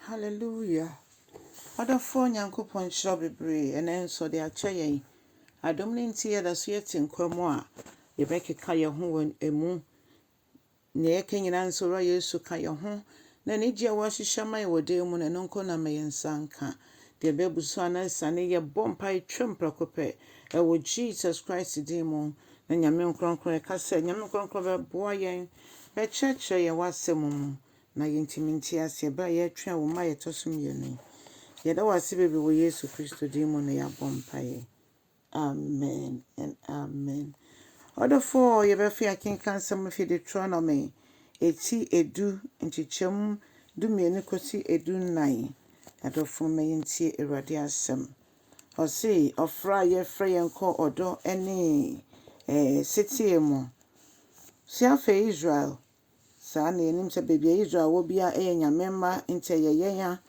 Hallelujah! Ɔdɔfoɔ Nyankopɔn nhyira wo bebree. Ɛnnɛ nso ɔde akyɛ yɛn. Adom no nti yɛda so yɛte nkwa mu a yɛbɛkeka yɛn ho wɔ ɛmu. Nea yɛka nyinaa nso Wura Yesu ka yɛn ho. Na anigye a wahyehyɛ ama yɛn wɔ dan mu no, ɛno nko na ma yɛn nsa nka. Deɛ ɛbɛbu so anaa asiane, yɛbɔ mpae twam prɛko pɛ ɛwɔ Jesus Christ din mu. Na Nyame Nkorɔnkorɔ, yɛka sɛ Nyame Nkorɔnkorɔ bɛboa yɛn, bɛkyerɛkyerɛ yɛn w'asɛm mu. Na yɛntumi nte aseɛ berɛ a yɛretwɛn wo mma a yɛtɔ so mmienu yi. Yɛda wo ase bebree wɔ Yesu Kristo din mu na yɛabɔ mpaeɛ. Amen and amen. Ɔdɔfoɔ, yɛbɛfe akenkan nsɛm no fi Deuteronomy ɛti edu nkyekyɛm du mmienu kɔsi edu nnan. Adɔfoɔ mma yɛntie Awurade asɛm. Ɔse, ɔfrɛ a yɛfrɛ yɛn kɔ ɔdɔ ne ɛɛ seteɛ mu. Se afei Israel, Saa na yɛnim sɛ baabi a Israel wɔ biara yɛ Nyame mma nti ɛyɛ yɛn a.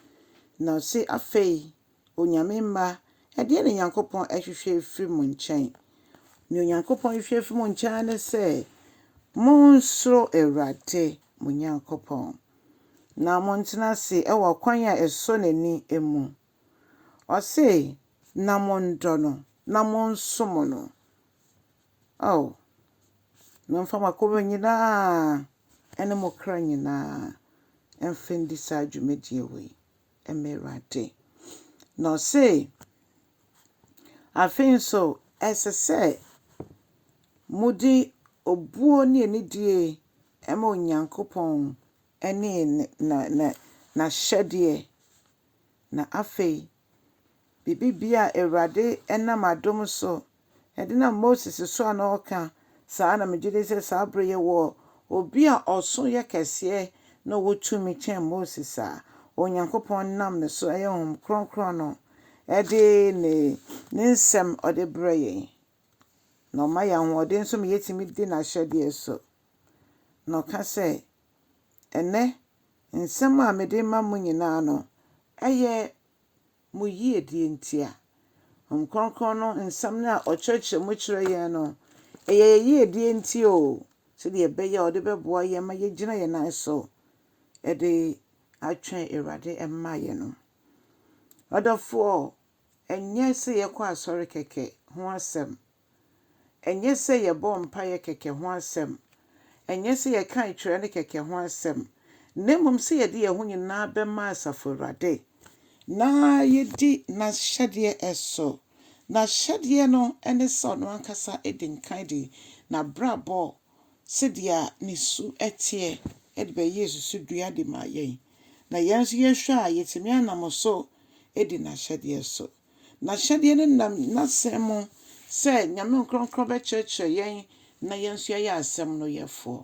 Na ɔse afei, O Nyame mma, ɛdeɛn na Nyankopɔn ahwehwɛ afiri mo nkyɛn? Nea Onyankopɔn hwehwɛ afiri mo nkyɛn ara ne sɛ monsuro Awurade mo Nyankopɔn, na montena ase wɔ akwan a ɛsɔ n'ani mu. Ɔse, Na monnɔ no, na monsom no. Ao, na ɔmfa mo akoma nyina ara ne mo kra nyina ara mfa ndi saa dwumadie wei ma Awurade. Na ɔse, Afei nso, ɛsɛ sɛ mode obuo ne anidie ma Onyankopɔn ne N'ahyɛdeɛ, na afei Biribiara a Awurade nam adom so de nam Moses so a na ɔka saa na megye di sɛ saa bere yi wɔ obi a ɔso yɛ kɛseɛ na ɔwɔ tumi kyɛn Moses a Onyankopɔn nam ne so, ɛyɛ Honhom Kronkron no, de ne ne nsɛm ɔde brɛ yɛn. Na ɔma yɛn ahoɔden nso ma yɛtumi di n'ahyɛdeɛ so. Na ɔka sɛ. Ɛnnɛ, nsɛm a mede rema mo nyinaa no yɛ mo yie deɛ nti a. Honhom Kronkron no nsɛm no a ɔkyerɛkyerɛ mu kyerɛ yɛn no, ɛyɛ yɛn yie deɛ nti o, sɛdeɛ ɛbɛyɛ a ɔde bɛboa yɛn ma yɛagyina yɛn nan so de atwɛn Awurade mmaeɛ no. Ɔdɔfoɔ, ɛnyɛ sɛ yɛkɔ asɔre kɛkɛ ho asɛm Ɛnyɛ sɛ yɛbɔɔ mpaeɛ kɛkɛ ho asɛm, ɛnyɛ sɛ yɛkae twerɛ no kɛkɛ ho asɛm, na mmom sɛ yɛde yɛn ho nyinaa bɛma Asafo Awurade, na yɛdi N'ahyɛdeɛ so, N'ahyɛdeɛ no ne sɛ Ɔno ankasa di nkan de N'abrabɔ sɛdeɛ Ne su teɛ de bɛyɛɛ susudua de maa yɛn, na yɛn nso yɛhwɛ a yɛtumi anam so di N'ahyɛdeɛ so. N'ahyɛdeɛ no nam N'Asɛm mu sɛ Nyame Nkorɔnkorɔ bɛkyerɛkyerɛ yɛn na yɛn nso yɛayɛ Asɛm no yɛfoɔ.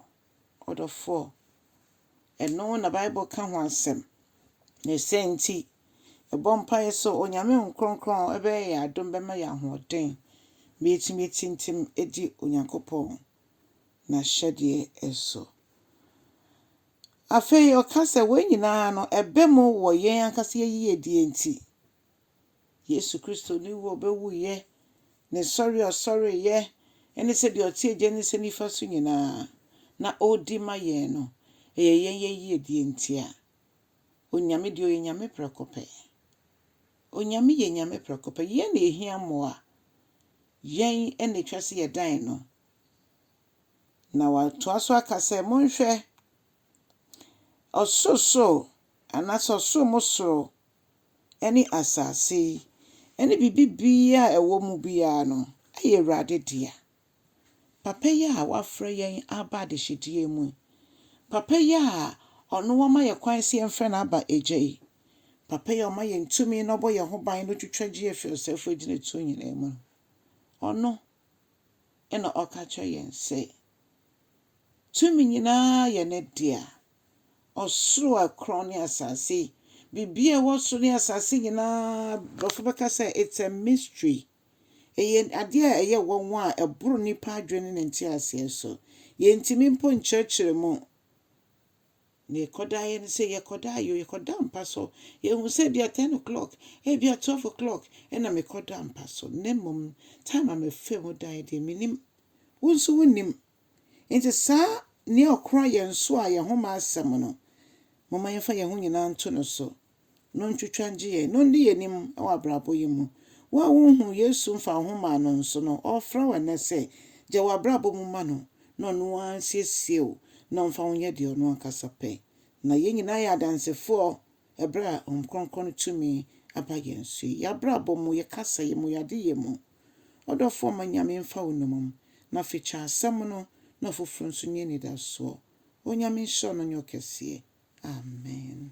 Ɔdɔfoɔ. Ɛno na Bible ka ho asɛm. Ne sɛ nti, yɛbɔ mpaeɛ sɛ Onyame Nkorɔnkorɔ bɛyɛ yɛn adom bɛma yɛn ahoɔden ma yɛatumi atintim adi Onyankopɔn N'ahyɛdeɛ so. Afei ɔka sɛ wei nyinaa no ɛba mu wɔ yɛn ankasa yɛn yiyedie nti. Yesu Kristo ne wu a ɔbɛwuiɛ, ne sɔre a ɔsɔreeɛ, ne sɛ deɛ ɔte Agya no nsa nifa so nyinaa na ɔredi ma yɛn no, ɛyɛ yɛn yɛ yiedie ntia. Onyame deɛ ɔyɛ Nyame prɛko pɛ. Onyame yɛ Nyame prɛko pɛ. Yɛn na ɛhia mmoa. Yɛn na ɛtwa sɛ yɛdan no. Na watoa so aka sɛ, monhwɛ, ɔsorosoro anaasɛ ɔsoro mo soro ne asase yi ne biribiara a ɛwɔ mu biara no yɛ Awurade dea. Papa yi a wafrɛ yɛn aba adehyedeɛ mu yi, papa yi a ɔno wama yɛ kwan sɛ yɛmfrɛ no aba Agya yi, papa yi a ɔma yɛn tumi na ɔbɔ yɛn ho ban na ɔtwitwa gye yɛn firi ɔsɛefoɔ agyinatuo nyinaa mu no, ɔno na ɔka kyerɛ yɛn sɛ, Tumi nyinaa yɛ ne dea. Ɔsoro a ɛkorɔn ne asase yi, biribiara a ɛwɔ soro ne asase nyinaa, Borɔfo bɛka sɛ it's a mystery. Ɛyɛ adeɛ a ɛyɛ nwanwa a ɛboro nnipa adwene ne ne nteaseɛ so. Yɛntumi mpo nkyerɛkyerɛ mu. Nea ɛkɔdaa yɛ ne sɛ yɛkɔdaa yɛ o, yɛkɔdaa mpa so. Yɛhu sɛ ebia ten o'clock, ebia twelve o'clock na mekɔdaa mpa so, na mmom time a mefaa mu daeɛ deɛ, mennim. Wo nso wonnim. Enti saa nea ɔkora yɛn so a yɛn ho ma asɛm no, momma yɛmfa yɛn ho nyinaa nto no so. no ntwitwa ngye yɛn, na ondi yɛn enyim wɔ abrabɔ yi mu. Wo a wonnhun Yesu mmfa woho mmaa no nso no, ɔrefrɛ wo nnɛ sɛ, gya w'abrabɔ mu ma no na ɔno ara nsiesie wo na ɔmfa wo nyɛ deɛ ɔno ankasa pɛ. Na yɛn nyinaa yɛ adansefoɔ ɛberɛ a Honhom Kronkron no tumi aba yɛn so yi, yɛn abrabɔ mu, yɛn kasayɛ mu, yɛn adeyɛ mu. Ɔdɔfoɔ ma Nyame mfa wo nnomum, na afe kyɛ asɛm no na ɔfoforɔ nso nyi anidasoɔ. Onyame nhyira wo na ɔnyɛ wo kɛseɛ. Amen.